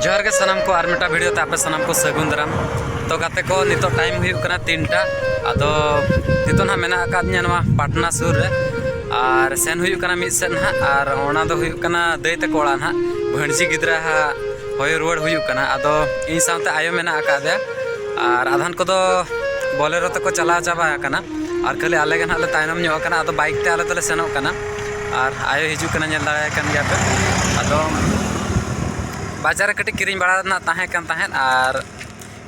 ᱡᱚᱦᱟᱨ ᱜᱮ ᱥᱟᱱᱟᱢ ᱠᱚ ᱟᱨ ᱢᱤᱫᱴᱟᱝ ᱵᱷᱤᱰᱤᱭᱳ ᱛᱮ ᱟᱯᱮ ᱥᱟᱱᱟᱢ ᱠᱚ ᱥᱟᱹᱜᱩᱱ ᱫᱟᱨᱟᱢ ᱛᱚ ᱜᱟᱛᱮ ᱠᱚ ᱱᱤᱛᱚᱜ ᱴᱟᱭᱤᱢ ᱦᱩᱭᱩᱜ ᱠᱟᱱᱟ ᱛᱤᱱᱴᱟ ᱟᱫᱚ ᱱᱤᱛᱚᱜ ᱱᱟᱦᱟᱜ ᱢᱮᱱᱟᱜ ᱟᱠᱟᱫ ᱫᱤᱧᱟ ᱱᱚᱣᱟ ᱯᱟᱴᱱᱟ ᱥᱩᱨ ᱨᱮ ᱟᱨ ᱥᱮᱱ ᱦᱩᱭᱩᱜ ᱠᱟᱱᱟ ᱢᱤᱫ ᱥᱮᱫ ᱱᱟᱦᱟᱜ ᱟᱨ ᱚᱱᱟ ᱫᱚ ᱦᱩᱭᱩᱜ ᱠᱟᱱᱟ ᱫᱟᱹᱭ ᱛᱟᱠᱚ ᱚᱲᱟᱜ ᱱᱟᱦᱟᱜ ᱵᱷᱟᱹᱬᱡᱤ ᱜᱤᱫᱽᱨᱟᱹ ᱦᱟᱸᱜ ᱦᱚᱭᱚ ᱨᱩᱣᱟᱹᱲ ᱦᱩᱭᱩᱜ ᱠᱟᱱᱟ ᱟᱫᱚ ᱤᱧ ᱥᱟᱶᱛᱮ ᱟᱭᱳ ᱢᱮᱱᱟᱜ ᱟᱠᱟᱫᱮᱭᱟ ᱟᱨ ᱟᱫᱷᱟᱱ ᱠᱚᱫᱚ ᱵᱚᱞᱮᱨᱳ ᱛᱮᱠᱚ ᱪᱟᱞᱟᱣ ᱪᱟᱵᱟ ᱟᱠᱟᱱᱟ ᱟᱨ ᱠᱷᱟᱹᱞᱤ ᱟᱞᱮ ᱜᱮ ᱱᱟᱦᱟᱜ ᱞᱮ ᱛᱟᱭᱱᱚᱢ ᱧᱚᱜ ᱟᱠᱟᱱᱟ ᱟᱫᱚ ᱵᱟᱭᱤᱠ ᱛᱮ ᱟᱞᱮ ᱫᱚᱞᱮ ᱥᱮᱱᱚᱜ ᱠᱟᱱᱟ ᱟᱨ ᱟᱭᱳᱭ ᱦᱤᱡᱩᱜ ᱠᱟᱱᱟ ᱧᱮᱞ ᱫᱟᱲᱮᱭᱟᱭ ᱠᱟᱱ ᱜᱮᱭᱟ ᱯᱮ ᱟᱫᱚ ᱵᱟᱡᱟᱨ ᱨᱮ ᱠᱟᱹᱴᱤᱡ ᱠᱤᱨᱤᱧ ᱵᱟᱲᱟ ᱨᱮᱱᱟᱜ ᱛᱟᱦᱮᱸ ᱠᱟᱱ ᱛᱟᱦᱮᱸᱫ ᱟᱨ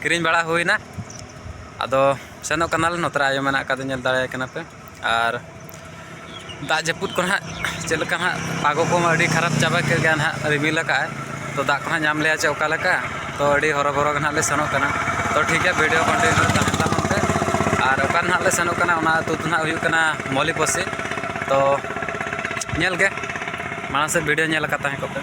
ᱠᱤᱨᱤᱧ ᱵᱟᱲᱟ ᱦᱩᱭᱱᱟ ᱟᱫᱚ ᱥᱮᱱᱚᱜ ᱠᱟᱱᱟᱞᱮ ᱱᱚᱛᱮ ᱨᱮ ᱟᱭᱳ ᱢᱮᱱᱟᱜ ᱠᱟᱫᱮᱭᱟ ᱧᱮᱞ ᱫᱟᱲᱮᱭᱟᱭ ᱠᱟᱱᱟ ᱯᱮ ᱟᱨ ᱫᱟᱜ ᱡᱟᱹᱯᱩᱫ ᱠᱚ ᱦᱟᱸᱜ ᱪᱮᱫ ᱞᱮᱠᱟ ᱦᱟᱸᱜ ᱯᱟᱜᱚ ᱠᱚᱢᱟ ᱟᱹᱰᱤ ᱠᱷᱟᱨᱟᱯ ᱪᱟᱵᱟ ᱠᱮᱫ ᱜᱮᱭᱟᱭ ᱦᱟᱸᱜ ᱨᱤᱢᱤᱞ ᱠᱟᱜ ᱟᱭ ᱛᱚ ᱫᱟᱜ ᱠᱚ ᱦᱟᱸᱜ ᱧᱟᱢ ᱞᱮᱭᱟ ᱪᱮ ᱚᱠᱟ ᱞᱮᱠᱟ ᱛᱚ ᱟᱹᱰᱤ ᱦᱚᱨᱚᱵᱚᱨᱚ ᱜᱮ ᱱᱟᱦᱟᱜ ᱞᱮ ᱥᱮᱱᱚᱜ ᱠᱟᱱᱟ ᱛᱚ ᱴᱷᱤᱠ ᱜᱮᱭᱟ ᱵᱷᱤᱰᱤᱭᱳ ᱠᱚᱱᱴᱤᱱᱤᱭᱩ ᱨᱮ ᱛᱟᱦᱮᱱ ᱛᱟᱵᱚᱱ ᱯᱮ ᱟᱨ ᱚᱠᱟ ᱱᱟᱦᱟᱜ ᱞᱮ ᱥᱮᱱᱚᱜ ᱠᱟᱱᱟ ᱚᱱᱟ ᱟᱹᱛᱩ ᱫᱚ ᱱᱟᱦᱟᱜ ᱦᱩᱭᱩᱜ ᱠᱟᱱᱟ ᱢᱚᱞᱤ ᱯᱚᱥᱤ ᱛᱚ ᱧᱮᱞ ᱜᱮ ᱢᱟᱲᱟᱝ ᱥᱮᱫ ᱵᱷᱤᱰᱤᱭᱳ ᱧᱮᱞ ᱟᱠᱟᱫ ᱛᱟᱦᱮᱸ ᱠᱚᱜ ᱯᱮ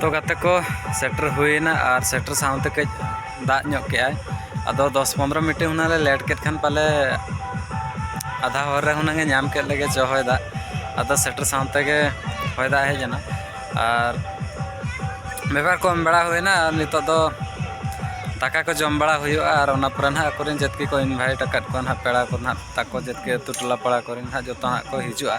ᱛᱚ ᱜᱟᱛᱮ ᱠᱚ ᱥᱮᱴᱮᱨ ᱦᱩᱭᱮᱱᱟ ᱟᱨ ᱥᱮᱴᱮᱨ ᱥᱟᱶᱛᱮ ᱠᱟᱹᱡ ᱫᱟᱜ ᱧᱚᱜ ᱠᱮᱜᱼᱟᱭ ᱟᱫᱚ ᱫᱚᱥ ᱯᱚᱱᱨᱚ ᱢᱤᱱᱤᱴ ᱦᱩᱱᱟᱹᱝ ᱞᱮ ᱞᱮᱴ ᱠᱮᱫ ᱠᱷᱟᱱ ᱯᱟᱞᱮ ᱟᱫᱷᱟ ᱦᱚᱨ ᱨᱮ ᱦᱩᱱᱟᱹᱝ ᱮ ᱧᱟᱢ ᱠᱮᱫ ᱞᱮᱜᱮ ᱪᱚ ᱦᱚᱭ ᱫᱟᱜ ᱟᱫᱚ ᱥᱮᱴᱮᱨ ᱥᱟᱶ ᱛᱮᱜᱮ ᱦᱚᱭ ᱫᱟᱜ ᱦᱮᱡ ᱮᱱᱟ ᱟᱨ ᱵᱮᱵᱷᱟᱨ ᱠᱚ ᱮᱢ ᱵᱟᱲᱟ ᱦᱩᱭᱱᱟ ᱟᱨ ᱱᱤᱛᱚᱜ ᱫᱚ ᱫᱟᱠᱟ ᱠᱚ ᱡᱚᱢ ᱵᱟᱲᱟ ᱦᱩᱭᱩᱜᱼᱟ ᱟᱨ ᱚᱱᱟ ᱯᱚᱨᱮ ᱱᱟᱦᱟᱜ ᱟᱠᱚᱨᱮᱱ ᱡᱟᱹᱛᱠᱤ ᱠᱚ ᱤᱱᱵᱷᱟᱭᱤᱴ ᱟᱠᱟᱫ ᱠᱚᱣᱟ ᱱᱟᱦᱟᱜ ᱯᱮᱲᱟ ᱠᱚ ᱱᱟᱦᱟᱜ ᱛᱟᱠᱚ ᱡᱟᱹᱛᱠᱤ ᱟᱹᱛᱩ ᱴᱚᱞᱟ ᱯᱟᱲᱟ ᱠᱚᱨᱮᱱ ᱱᱟᱦᱟᱜ ᱡᱚᱛᱚ ᱦᱟᱸᱜ ᱠᱚ ᱦᱤᱡᱩᱜᱼᱟ